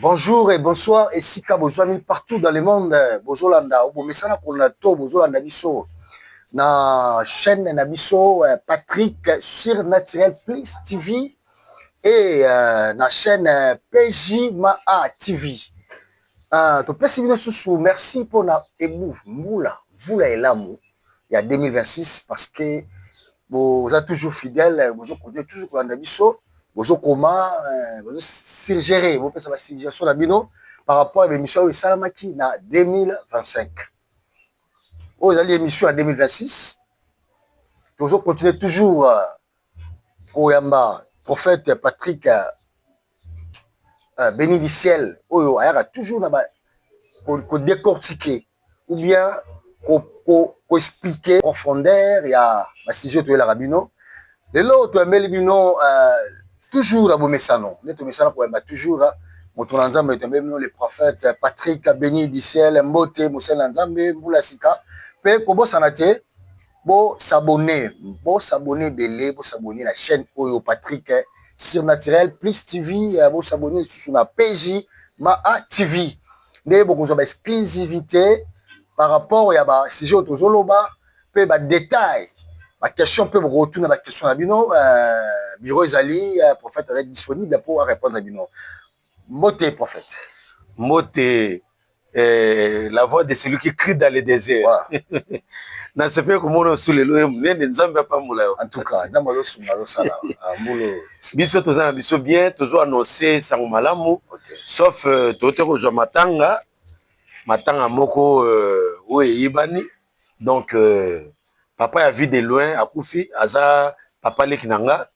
Bonjour et bonsoir esika bozwami partout dans le monde bozolanda obomesana kolanda to bozolanda biso na chaîne na biso euh, Patrick sur Naturel Plus TV et euh, na chaîne euh, PJ Maa TV euh, topesi bino susu merci mpona ebu mbula mvula elamu ya 2026 parce que boza toujours fidèle bozo continue toujours kolanda biso bozo koma eh, bozo suggere bopesa basuggestion na bino par rapport ya bemission oyo esalamaki na 2025 oyo ezali émission ya 2026 tozo continue toujours euh, koyamba prophète patrick euh, beni du ciel oyo ayaka toujours na ba ko decortiquer ou bien ko expliquer profondeur ya ba sujet oyo toyelaka bino lelo toyambeli bino toujours na bomesano nde tomesana koyamba toujours moto na nzambe toyambeli bino le prophète Patrick beni du ciel mbote mosali na nzambe mbula sika pe kobosana te Bo s'abonner bo s'abonner ebele bo s'abonner na chaine oyo Patrick surnaturel plus TV bo s'abonner lisusu na PJ ma a TV nde bokozwa ba exclusivite par rapport ya ba sujet oyo tozoloba mpe ba detail ba question mpe bokotuna ba question na bino euh, bureau ezali euh, prophète azali disponible mpo a répondre bino mbote prophète mbote Eh, la voix de celui qui crie dans le désert nasepeli komona osu lelo ye monene nzambe apambola yo en tout cas nzambe azosunga azosala ah, mbulu biso toza na biso bien tozo annonce sango malamu sauf euh, tote kozwa matanga matanga moko euh, oyo eyebani donc euh, papa ya vie de loin akufi aza papa leki na nga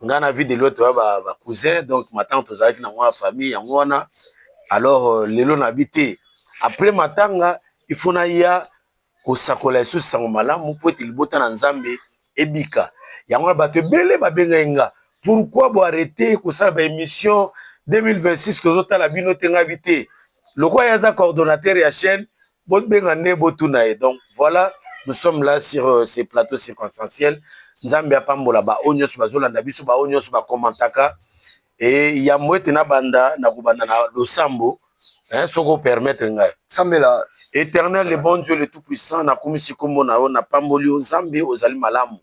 nga na vide loto ya ba cousin donc matanga tozalaki na mwa famille yango wana alors euh, lelo na bi te après matanga il faut na ya kosakola lisusu sango malamu mpo ete libota na nzambe ebika yango wana bato ebele babengaki nga pourquoi bo arrete kosala ba émission 2026 tozotala bino te ngai bi te lokola ye aza coordonnateur ya chaîne bobenga nde botuna ye donc voilà nous sommes là sur euh, ce plateau circonstanciel nzambe apambola baoyo nyonso bazolanda biso baoyo nyonso bakomantaka e yambo ete nabanda nakobanda na losambo hein, soki opermettre ngai sambela éternel le bon dieu le tout puissant nakumisi nkombo na yo napamboli yo nzambe ozali malamu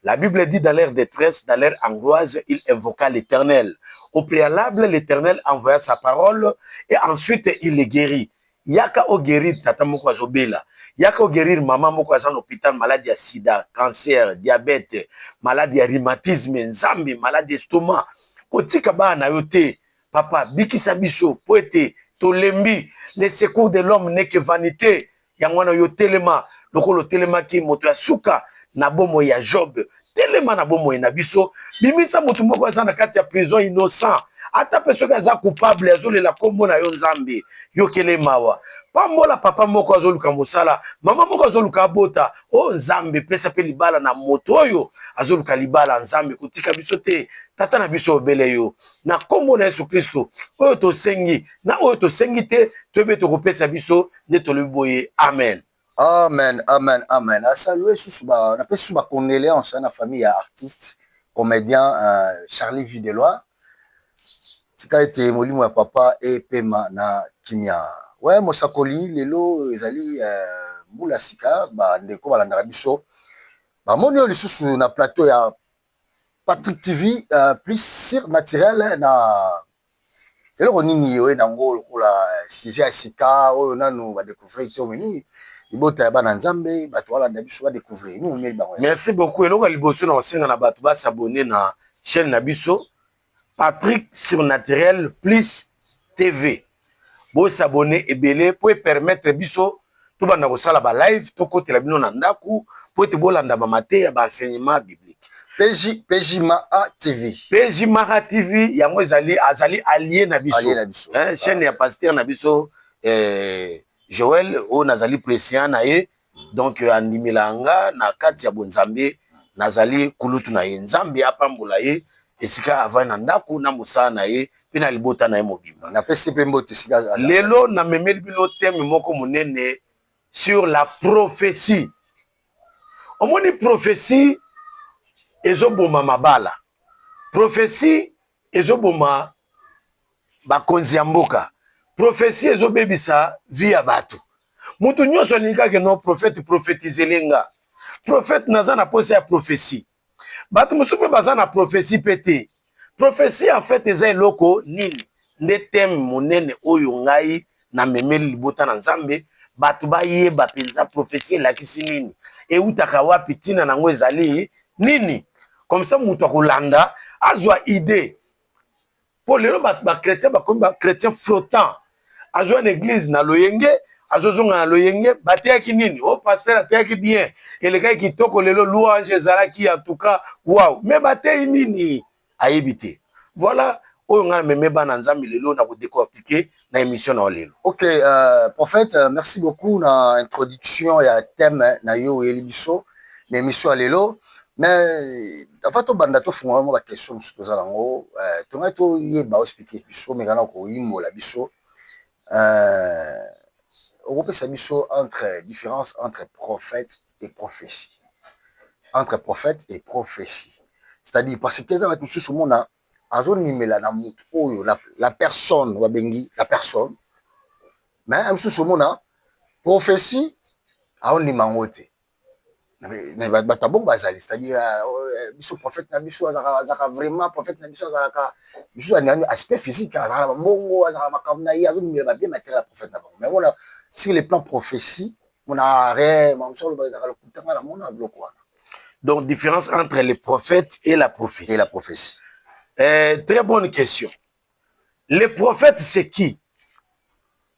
La Bible dit dans leur détresse, dans leur angoisse, il invoqua l'Éternel. Au préalable, l'Éternel envoya sa parole et ensuite il les guérit. yaka o guerir tata moko azo bela, yaka o guerir maman moko aza na hopital malade ya sida, cancer, diabete, malade ya rhumatisme, nzambe malade ya estomac kotika bana na yo te papa bikisa biso po ete tolembi le secours de l'homme n'est que vanite yango wana yo telema lokola otelemaki moto ya suka na bomoi ya job telema na bomoi na biso bimisa moto moko aza na kati ya prison innocent ata mpe soki aza coupable azolela nkombo na yo nzambe yokele mawa pambola papa moko azoluka mosala mama moko azoluka abota o oh, nzambe pesa mpe libala na moto oyo azoluka libala nzambe kotika biso te tata na biso obele yo na nkombo na yesu kristo oyo tosengi na oyo tosengi te toyebi tokopesa biso nde tolobi boye amen Amen amen amen na salue susu ba na pesi susu ba condoleances na famille ya artiste comedien Charlie vue de loin tika ete molimo ya papa epema na kimia we mosakoli lelo ezali mbula sika ba ndeko balandaka biso bamoni oyo lisusu na plateau ya Patrick TV plus sur naturel na Eloko nini oye na yango lokola sujet ya sika oyo nanu ba decouvrir te omemi libota ya bana Nzambe bato balanda biso ba decouvrir nini omeli bango? Merci beaucoup eloko ya liboso na kosenga na bato ba s'abonner na chaine na biso Patrick surnaturel plus TV bo s'abonner ebele po e permettre biso tobanda kosala ba live tokotela bino na ndako po ete bolanda ba mateya ba enseignement biblique PJ PJ Mara TV PJ Mara TV yango ezali azali allié na biso, allié na biso. Hein, chaîne ya pasteur na biso eh, Joël oyo nazali president na ye donc andimela nga na kati ya bonzambe nazali kulutu na ye nzambe apambola ye esika avai na ndako na mosala na ye mpe na libota na ye mobimba na pesi mpe mbote esika lelo na memeli bino teme moko monene sur la prophetie omoni prophetie ezoboma mabala prophetie ezoboma bakonzi ya mboka prophetie ezobebisa vie ya bato moto nyonso alingi kaka no prophète prophetizele nga prophète naza na posa ya prophetie bato mosusu mpe baza na prophetie mpe te prophetie en fait eza eloko nini nde teme monene oyo ngai na memeli libota na Nzambe bato bayeba mpenza prophetie elakisi nini, eutaka wapi, ntina na yango ezali nini, comme ça moto akolanda azwa idee. Mpo lelo bato ba chrétien bakomi ba chrétien flottant, azwa na eglise na loyenge azozonga na loyenge, bateyaki nini? O oh, pasteur ateyaki bien, elekaki kitoko lelo, louange ezalaki en tout cas wow, mais bateyi nini? ayebi te voilà oyo ngai meme bana nzambe lelo na kodecortike na émission na yo lelo ok euh, prophète euh, merci beaucoup na introduction ya thème na yo oyeli biso na émission ya lelo mais avant tobanda tofungola mwa baquestion mosusu toza nango euh, tongai toyeba ospike biso mekana koyimbola biso Okopesa biso entre difference entre prophète et prophetie entre prophète et prophetie c'est à dire parce que eza batu misusu omona azo numela na mutu oyo la personne ba bengi la personne mais mususu omona prophetie azo ndima yango te. mais bato ya bongo bazali c'est à dire biso prophète na biso azalaka vraiment prophète na biso azalaka biso na aspect physique azalaka ba mbongo azalaka makambo na ye azobimela ba bien matériel ya prophète na bango mais omona sur le plan prophetie omona rien makambo mosusu aloba ezalaka lokuta nga namona biloko wana donc différence entre le prophète et la prophetie et la prophetie très bonne question Le prophète c'est qui?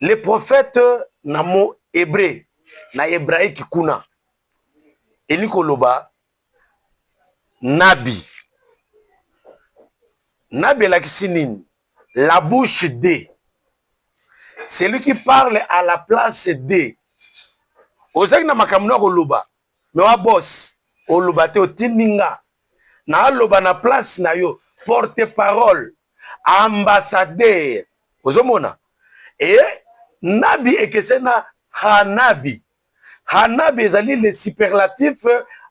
Le prophète na mot hebreu na hebraique kuna elingi koloba nabi. Nabi elakisi nini? La bouche de celui qui parle à la place de. Ozangi na makambo na koloba mais wa boss oloba te otindi nga n'a loba n'a place n'a yo porte parole ambassadeur ozo mona et nabi ekeseni n'a hanabi hanabi ezali le superlatif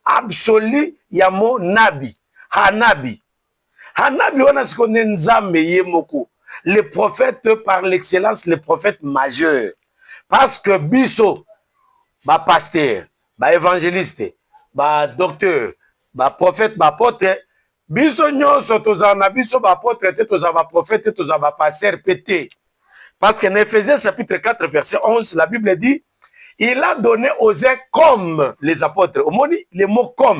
absolu ya mot nabi hanabi Hanabi wana siko nde Nzambe ye moko le prophète par l'excellence le prophète majeur parce que biso ba pasteur ba evangeliste ba docteur ba prophète ba apotre biso nyonso tozala na biso ba apotre te tozala ba prophète te tozala ba pasteur mpe te parce que na Ephésiens chapitre 4 verset 11 la Bible dit il a donné aux uns comme les apôtres omoni le mot comme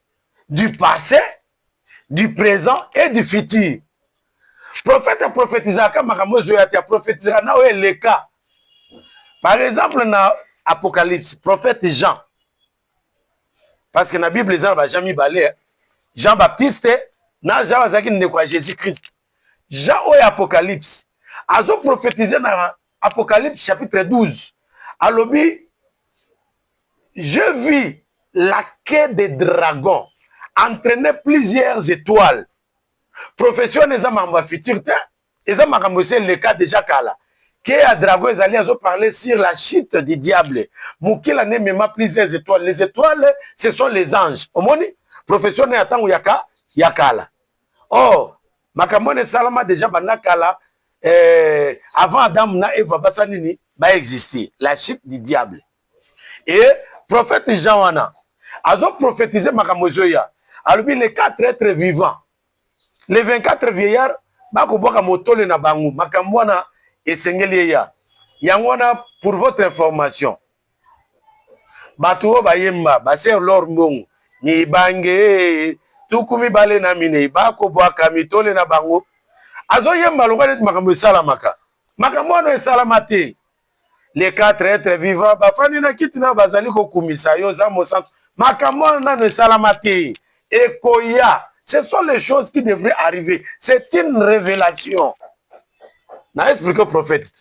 du passé, du présent et du futur. Prophète aprophétisaka makambo ezoya te, aprophétisaka na oyo eleka. Par exemple na Apocalypse, prophète Jean. Parce que na Bible eza na ba Jean mibale, Jean Baptiste na Jean azalaki ndeko ya Jésus-Christ. Jean oyo Apocalypse azo prophétiser na Apocalypse chapitre 12 alobi je vis la queue de dragon entraîner plusieurs étoiles prophetie wana eza makambo ya future te eza makambo esi eleka deja kala ke ya dragon ezali azo parler sur la chute du diable mokila nde emema plusieurs étoiles les étoiles ce sont les anges omoni prophetie wana ya ntango ya kala or makambo wana esalama deja banda kala eh, avant adamu na eva basa nini baexiste la chute du diable e prophète jean wana azoprophétise makambo ezoya alobi le 4 être vivant le 24 vieillard bakobwaka motole na bango makambo wana esengeli eya yango wana pour votre information Batu oyo bayemba ba sœur l'or mbongo mibangeeee tuku mibale na mineyi bako buaka mitole na bango azo yemba lokola neti makambo esalamaka makambo wana esalama te les quatre etre vivant bafandi na kiti nayo bazali ko kumisa yo oza mosantu makambo wana nanu esalama te ekoya ce sont les choses qui devraient arriver c'est une révélation na explique prophète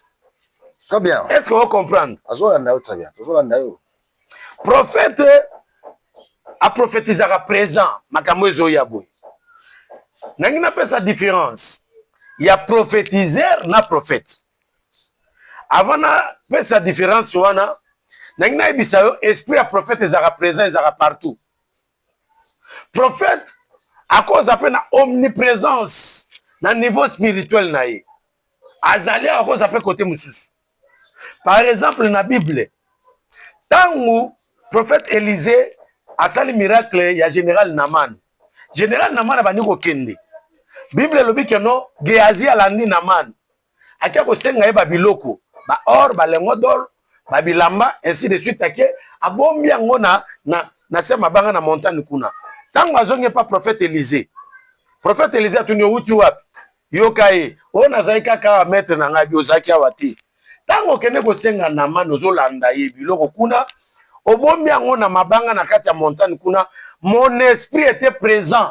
très bien est ce que ocomprendre azolanda yo très bien tozolanda yo prophète aprophétisaka présent makambo ezoya boye nangi napesa différence ya prophétiseur na prophète avant napesa différence wana nangi nayebisa yo esprit ya prophète ezalaka présent ezalaka partout prophète akoza mpe na omnipresence na niveau spirituel na ye azali awa akoza mpe kote mosusu par exemple na bible ntango prophète elise asali miracle ya général naman général naman abandi kokende bible elobi keno geazi alandi naman ake kosenga ye babiloko ba or balengo dor babilamba ainsi de suite ake abombi yango na, na, na se mabanga na montagne kuna ntango azongi epa prophète elise prophète elise atuni owuti wapi yoka ye oyo nazali kaka awa maître na ngai bi ozalaki awa te ntango okende kosenga namani ozolanda ye biloko kuna obombi yango na mabanga na kati ya montagne kuna mon esprit était présent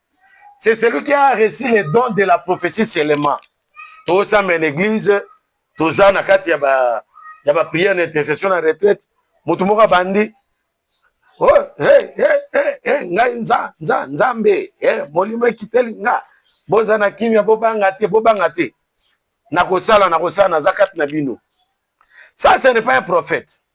C'est celui qui a reçu les dons de la prophétie seulement. Tout ça, mais l'église, tout ça, na kati ya ba, ya ba prière na intercession na retraite, mutu moko bandi, oh, hey, hey, hey, hey, ngai nza, nza, nzambe, hey, molimo ekiteli nga, boza na kimia, bobanga te, bobanga te. Nakosala, nakosala, naza kati na bino. Ça, ce n'est pas un prophète.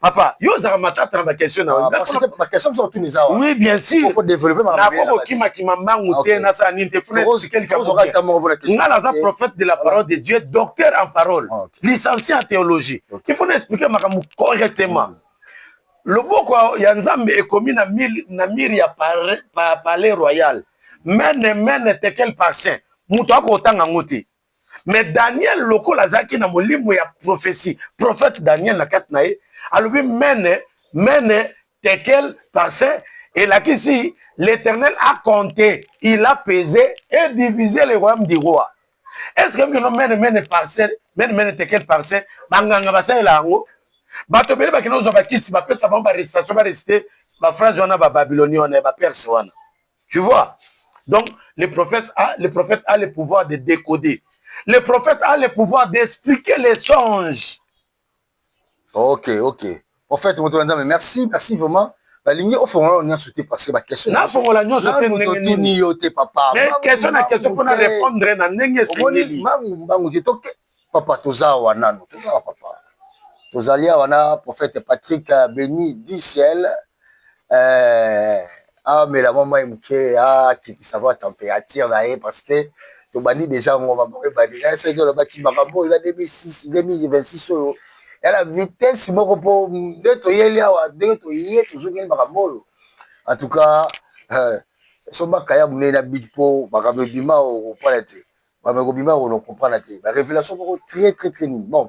papa yo ozalaka matata na bakestion na oui bien surnakokokimakima mbangu te nasala nini te nga naza prophète de la parole de dieu docteur en parole ah, licencié en théologie il faut na explike makambo correctement mm. loboko ya nzambe ekomi na mire ya palais royal mene mene tekel parcin moto akotanga yango te me daniel lokola azalaki na molimo ya prophesie prophète daniel na kati na ye alobi mene mene tekel parce elakisi l'éternel a compté il a pesé et divisé le royaume du roi est ce que bino mene mene parcelle mene mene tekel parcelle banganga basalela yango bato ebele bakende kozwa bakisi bapesa bango barestation baresite baphrase wana bababiloni wana ya baperse wana Tu vois Donc, le prophète, a, le prophète a le pouvoir de décoder. Le prophète a le pouvoir d'expliquer les songes. Ok, ok. Prophète, merci, merci vraiment. balingi ofongola yo nyonso te parce que baquestion nafongola nyonso te ndenge yo te papa mais question na question mpona répondre na ndenge esengeli mbangu mbangu te toke papa toza awa nano toza awa papa tozali awa na prophète patrick beni dicel eh, amela mwa mai moke akitisa mwa temperature na ye parce que tobandi deja yango bamoko ebandi na soki olobaki makambo oyo eza 2026 oyo yala vitesse moko mpo nde toyeli awa ndenge toye tozongeli makambo oyo en tout cas eh, sombaka ya monene na bit mpo makambo ebima okopana te makambo ekobima okono comprendre te ba révélation moko très très très nini bon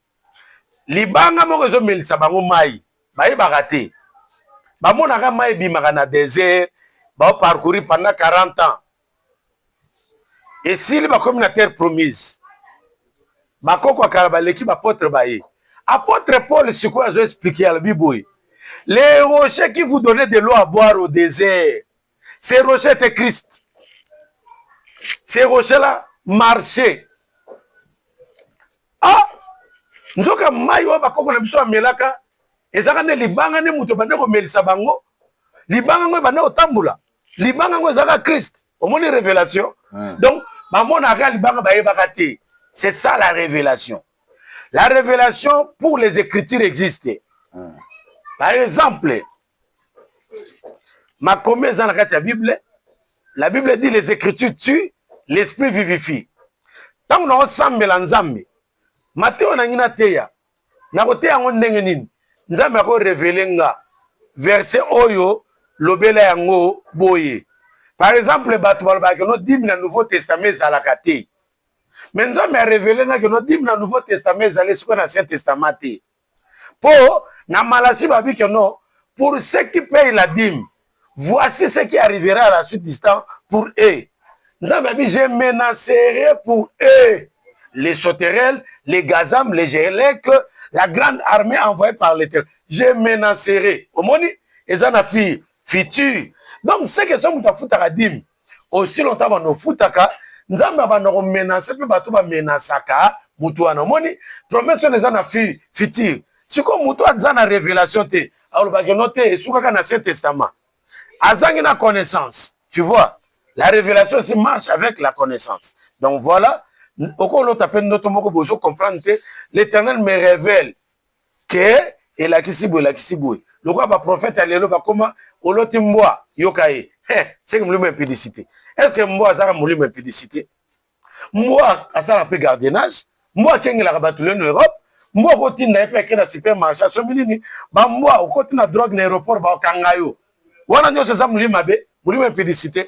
libanga moko ezomelisa bango mai bayebaka te bamonaka mai ebimaka na desert baoparcourir pendant 40 ans esili bakomi na terre promise bakoko ya kala baleki bapotre baye apotre paul sikoyo azo explike alobi boye les rochers qui vous donne de l'eau à boire au desert C'est Roger te Christ. C'est Roger là marché. Ah nzoka mai oyo bakoko na biso amelaka ezaka nde libanga nde moto ebande komelisa bango libanga yango ebande kotambola libanga yango ezaka christ omoni révélation hmm. donc bamonaka libanga bayebaka te c'est ça la révélation la révélation pour les écritures existe hmm. par exemple makomi eza na kati ya bible la bible dit les écritures tue l'esprit vivifie ntango naosambela nzambe mateyo nangi nateya nakoteya yango ndenge nini nzambe akorevele nga verse oyo lobela yango boye par exemple bato balobaka no dimi na nouveau testament ezalaka te mais nzambe a revele nga ke no dime na nouveau testament ezali esika na ancien testament te po na malachi babi ke no pour ceux qui payent la dime voici ce qui arrivera à la suite du temps pour eux nzambe abi je menacerai pour eux les sauterelles les gazam les gelek la grande armée envoyée par l'éternel je menacerai omoni eza na fille futur donc ce que soki moto afutaka dime aussi longtemps banda ofutaka nzambe abanda komenase mpe bato bamenasaka moto wana omoni promesse wana eza na futur sikoyo moto aza na révélation te alobaki no te esukaka na ancien testament azangi na connaissance tu vois la révélation si marche avec la connaissance donc voilà okolota mpe ndoto moko bozo comprendre te l'éternel me révèle ke elakisi boye elakisi boye lokola ba prophète ya lelo bakoma oloti mbwa yoka ye seke molimo ya impudicité est ce que mbwa azaka molimo ya impudicité mbwa asala mpe gardiennage mbwa akengelaka bato lelo na europe mbwa okotinda ye mpe ake na supermarché asombi nini bambwa okoti na drogue na aéroport bakanga yo wana nyonso eza molimo mabe molimo ya impudicité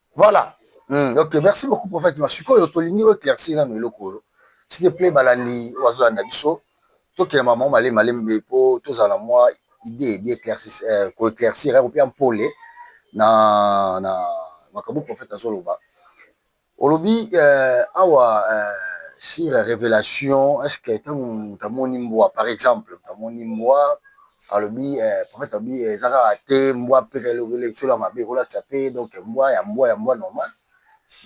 Voilà. Mm, ok, merci beaucoup prophète. Ma sikoyo tolingi o éclaircir na eloko oyo. S'il te plaît balandi ozo landa biso. Tokela maman male male mbe po tozala mwa idée bien éclaircir euh, ko éclaircir hein, kopia mpole na na makambo prophète azoloba. Olobi euh, awa euh, sur révélation est-ce que ntango moto amoni mbwa par exemple moto amoni mbwa alobi prophète alobi eza kaka te mbwa mpe lisolo ya mabe ekolakisa mpe donc mbwa ya mbwa ya mbwa normal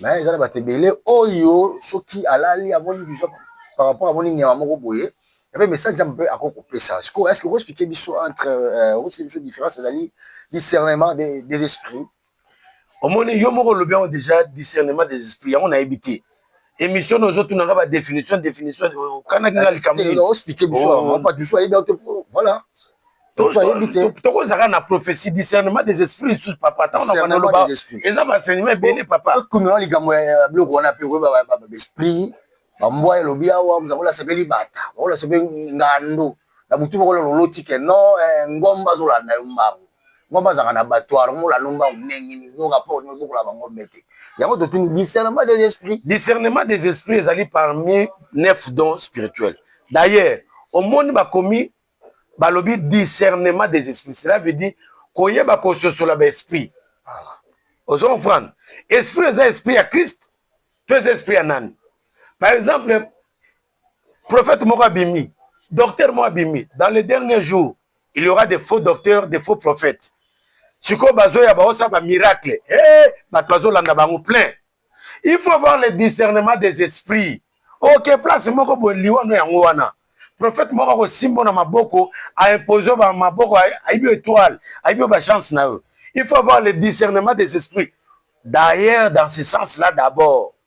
mais eza na bato ebele oyo soki alali amoni vision par rapport amoni nyama moko boye epe message nzambe mpe akoki kopesa sikoyo est ce que oko expliquer biso entre oko expliquer biso différence ezali discernement des esprits omoni yo moko olobi yango deja discernement des esprits yango nayebi te émission no ozotuna nga badéfinition définition okanaki nga likambo tokozalaka na prophétie discernement des esprits lisusu papa ntango na bandaloba eza baenseignement ebele papakununa likambo ya biloko wana mpe koyeba esprit bambwa elobi awa mozakola asepeli bata bakola asepeli ngando na butu moko lelo oloti ke non eh, ngomba azolanda yo mbangu ngomba azalaka na batoire ngomba olanda mbangu ndenge nini yo rapport nini obokola bangombe te yango totuni discernement des esprits discernement des esprits ezali parmi neuf dons spirituels d'ailleurs omoni bakomi balobi discernement des esprits cela veut dire koyeba kososola baesprit ozo comprendre esprit eza esprit ya christ to eza esprit ya nani par exemple prophète moko abimi docteur moko abimi dans les derniers jours il y aura des faux docteurs des faux prophètes sikoyo bazoya baosala bamiracle e eh, bato bazolanda bango plein il faut avoir le discernement des esprits oke place moko boye liwano yango wana prophète moko akosimbo na maboko aimpose yo bamaboko ayebi yo étoile ayebi yo bachance na yo il faut avoir le discernement des esprits d'ailleurs dans ce sens là d'abord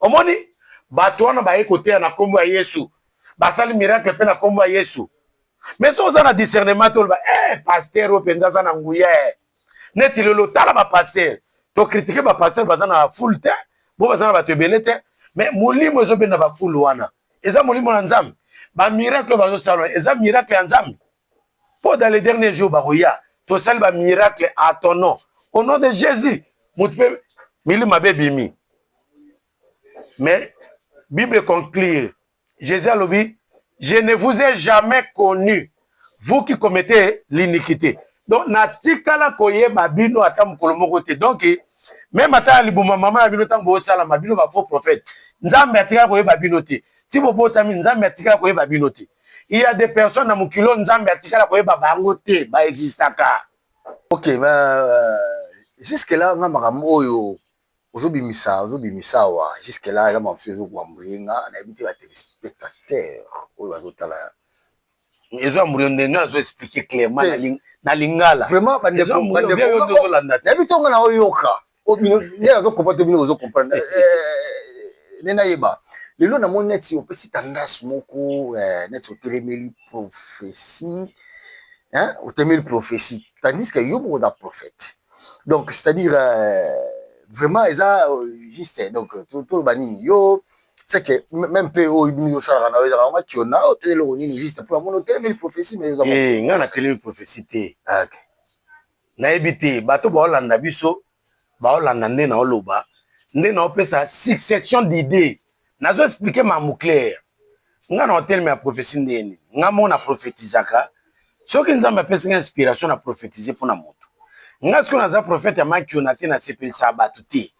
Omoni bato wana baye koteya na nkombo ya Yesu, basali miracle mpe na nkombo ya Yesu. Mais soki oza na discernement toloba eh pasteur oyo mpenza aza na nguya eh. neti lelo tala bapasteur tokritike bapasteur baza na fule te bo baza na bato ebele te mais molimo ezobenda bafule wana eza molimo na nzambe bamiracle bazosala eza miracle ya nzambe po dans les derniers jours bakoya tosali ba miracle à ton nom au nom de Jésus mutu pe milimo mabe bimi mais Bible conclure Jésus alobi je ne vous ai jamais connu vous qui commettez l'iniquité donc natikala koyeba bino ata mokolo moko te donc meme ata ya libuma mama ya bino ntango bosalama bino ba faux prophète nzambe atikala koyeba bino te ti bobotami nzambe atikala koyeba bino te il y a des personnes na mokili oyo nzambe atikala koyeba bango te baexistaka ok ma euh, jusque là nga makambo oyo ozobimisa ozobimisa awa jusque là eza makambo ezo koambrie nga nayebi te batelespectateur oyo bazotala ezo ambrie nde nga nazo explique clairement na lingala vraiment bandeko bandeko nayebi ntonga na oyoka nde nazo comprendre bino bozo comprendre nde nayeba lelo namoni neti opesi tendance moko neti otelemeli prophetie otelemeli prophetie tandis que yo moko oza prophète donc c'est à dire vraiment eza juste donc toloba nini yo c'est que même mpe oyo bini osalaka na yo ezalaka mwa kiona oyo mpe eloko nini juste mpo namoni otelemeli prophetie mais oza ngai natelemi prophetie te nayebi te bato baolanda biso baolanda nde naoloba nde naopesa succession d'idee nazo explike mambo claire nga na oteleme ya prophetie ndeni nga moko na prophetizaka soki nzambe apesi nga inspiration na prophetise mpo na moto nga soki naza prophète ya makiona te nasepelisa bato te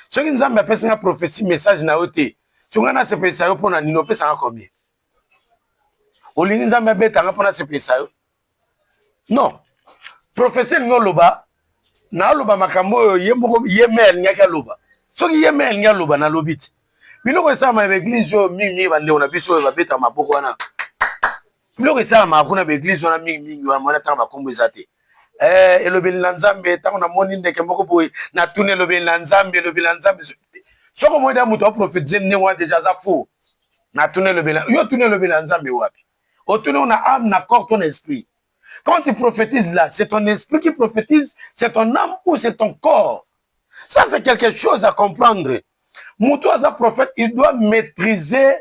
soki nzambe apesi nga prophetie message na yo te so nga nasepelisa yo mpo na nini opesanga combien olingi nzambe abetanga mpo nasepelisa yo non profesi elingi oloba naaloba makambo oyo ye moko ye me alingaki aloba soki ye me alingi aloba nalobi ti biloko esalama ya baeglize oyo mingimingi bandeko na biso oyo babeta maboko wana biloko esalamaka kuna baeglize wana mingimingi wana mwana ntango bakombo eza te eh, elobeli na nzambe ntango namoni ndeke moko boye natuni elobeli na nzambe elobeli na nzambe soki omoni da moto aprofetize ndenge wana deja aza fo natuni elobeli yo tuni elobeli na nzambe wapi otuni oyo na ame na corps to na esprit quand tu prophétises là c'est ton esprit qui prophétise c'est ton ame ou c'est ton corps ça c'est quelque chose à comprendre mutu aza prophète il doit maîtriser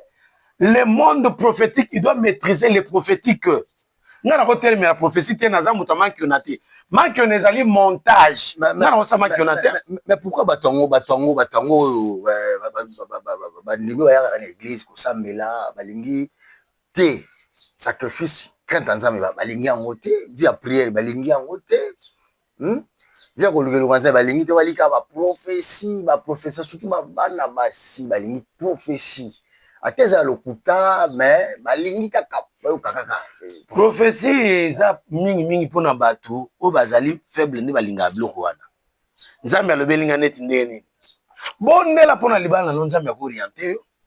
le monde prophétique il doit maîtriser les prophétiques nga nakotelemela prophétie te naza moto ya mankiona te mankiona ezali montage nga nakosa mankiona te mais pourquoi bato yango bato yango bato yango oyo bandimi bayakaka na église kosambela balingi te sacrifice crainte ya nzambe balingi yango te vie ya priere balingi yango te hmm? vie ya kolukeluka nzambe balingi te balika baprofesi baprofesa surtout babana basi balingi profesi ata eza ya lokuta me balingi kaka bayoka kaka profesi eza mingimingi mpona bato oyo bazali faible nde balingaka biloko wana nzambe alobeli ngai neti ndenge nini bondela mpona libala na yo nzambe akoriente yo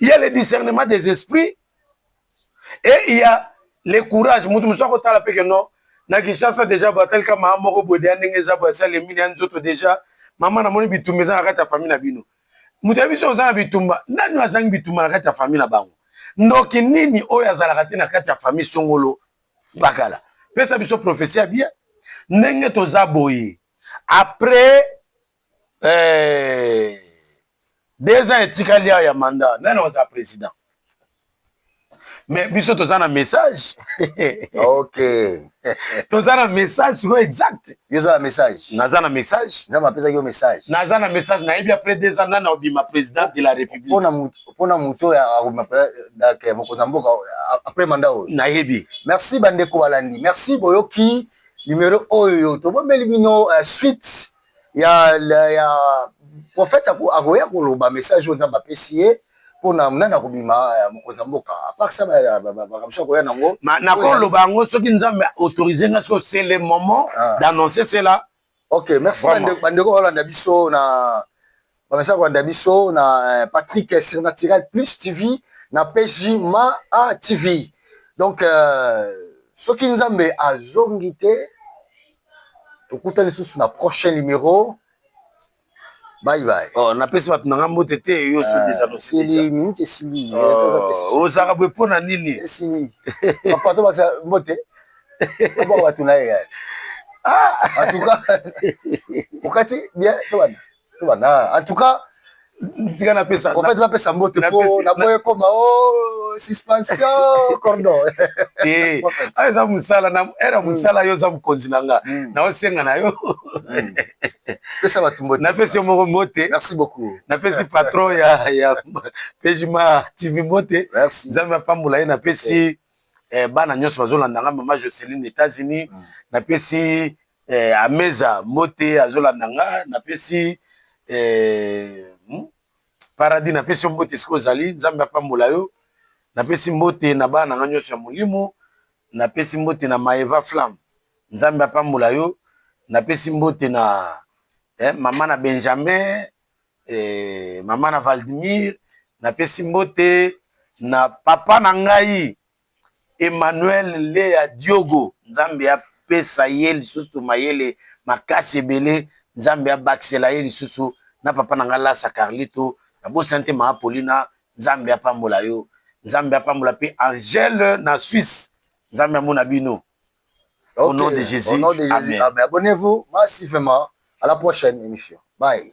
il y a le discernement des esprits et il y a le courage mutu mosusu akotala mpe ke non na kinshasa deja bo atalika mama moko boye deya ndenge eza boye asali emini ya nzoto deja mama namoni bitumba eza na kati ya famille na bino moto ya biso oza na bitumba nani azangi bitumba na kati ya famille na bango ndoki nini oyo azalaka te na kati ya famille songolo bakala pesa biso profesi ya bien ndenge toza boye après eh, deux ans etikali awa ya manda nani akozala president mais biso toza na message ok toza na message sikoyo exact yoza na message naza na message nzambe apesaki yo message naza na message nayebi apres deux ans nani aobima président de la république mpona moto oyo akobima euh, mokonzi ya mboka apres manda oyo nayebi merci bandeko balandi merci boyoki numero oyo tobombeli bino euh, suite ya, ya prophète akoya koloba message oyo nzambe apesi ye mpona nani akobima euh, mokonzi ya mboka aparsa makambo so akoya nango nakoloba yango soki nzambe autorise nga soki c'est le moment ah. d'annoncer cela ok merci bandeko balanda biso na Bamesaka kolanda biso na eh, Patrick Surnaturel Plus TV na PJ Ma A TV. Donc euh, soki Nzambe azongi te tokuta lisusu na prochain numero. Bye bye. Oh, napesi bato na nga mbote te yo so deja euh, tosili minute esili oh, ozalaka boye mpo na nini esili papa to bakisa mbote bato na ye ah! en tout cas okati bien tobanda bana en tout cas tika napesa en fait napesa mbote po naboye koma o oh, suspension cordon te ah, eza mosala na era hmm. mosala yo oza mokonzi na nga hmm. naosenga na yo hmm. pesa bato mbote napesi yo moko mbote merci beaucoup napesi patron ya ya pejima tv mbote nzambe apambola ye napesi eh, bana nyonso bazolanda nga mama joceline états-unis napesi Eh, Ameza mbote azolanda nga napesi eh, hmm? Paradis napesi yo mbote esika ozali, Nzambe apambola yo. Napesi mbote na bana na nga nyonso ya molimo, napesi mbote na Maeva Flamme, Nzambe apambola yo. Napesi mbote na eh, mama na Benjamin eh, mama na Valdimir, napesi mbote na papa na ngai Emmanuel Lea Diogo nzambe apesa ye lisusu mayele makasi ebele nzambe abakisela ye lisusu na papa na nga lasa carlito na bosani te mama Paulina nzambe apambola yo nzambe apambola pe Angèle na Suisse nzambe amona bino okay. au nom de Jesus, au nom de Jesus. Amen. Amen. Abonnez-vous, merci vraiment. À la prochaine émission. Bye.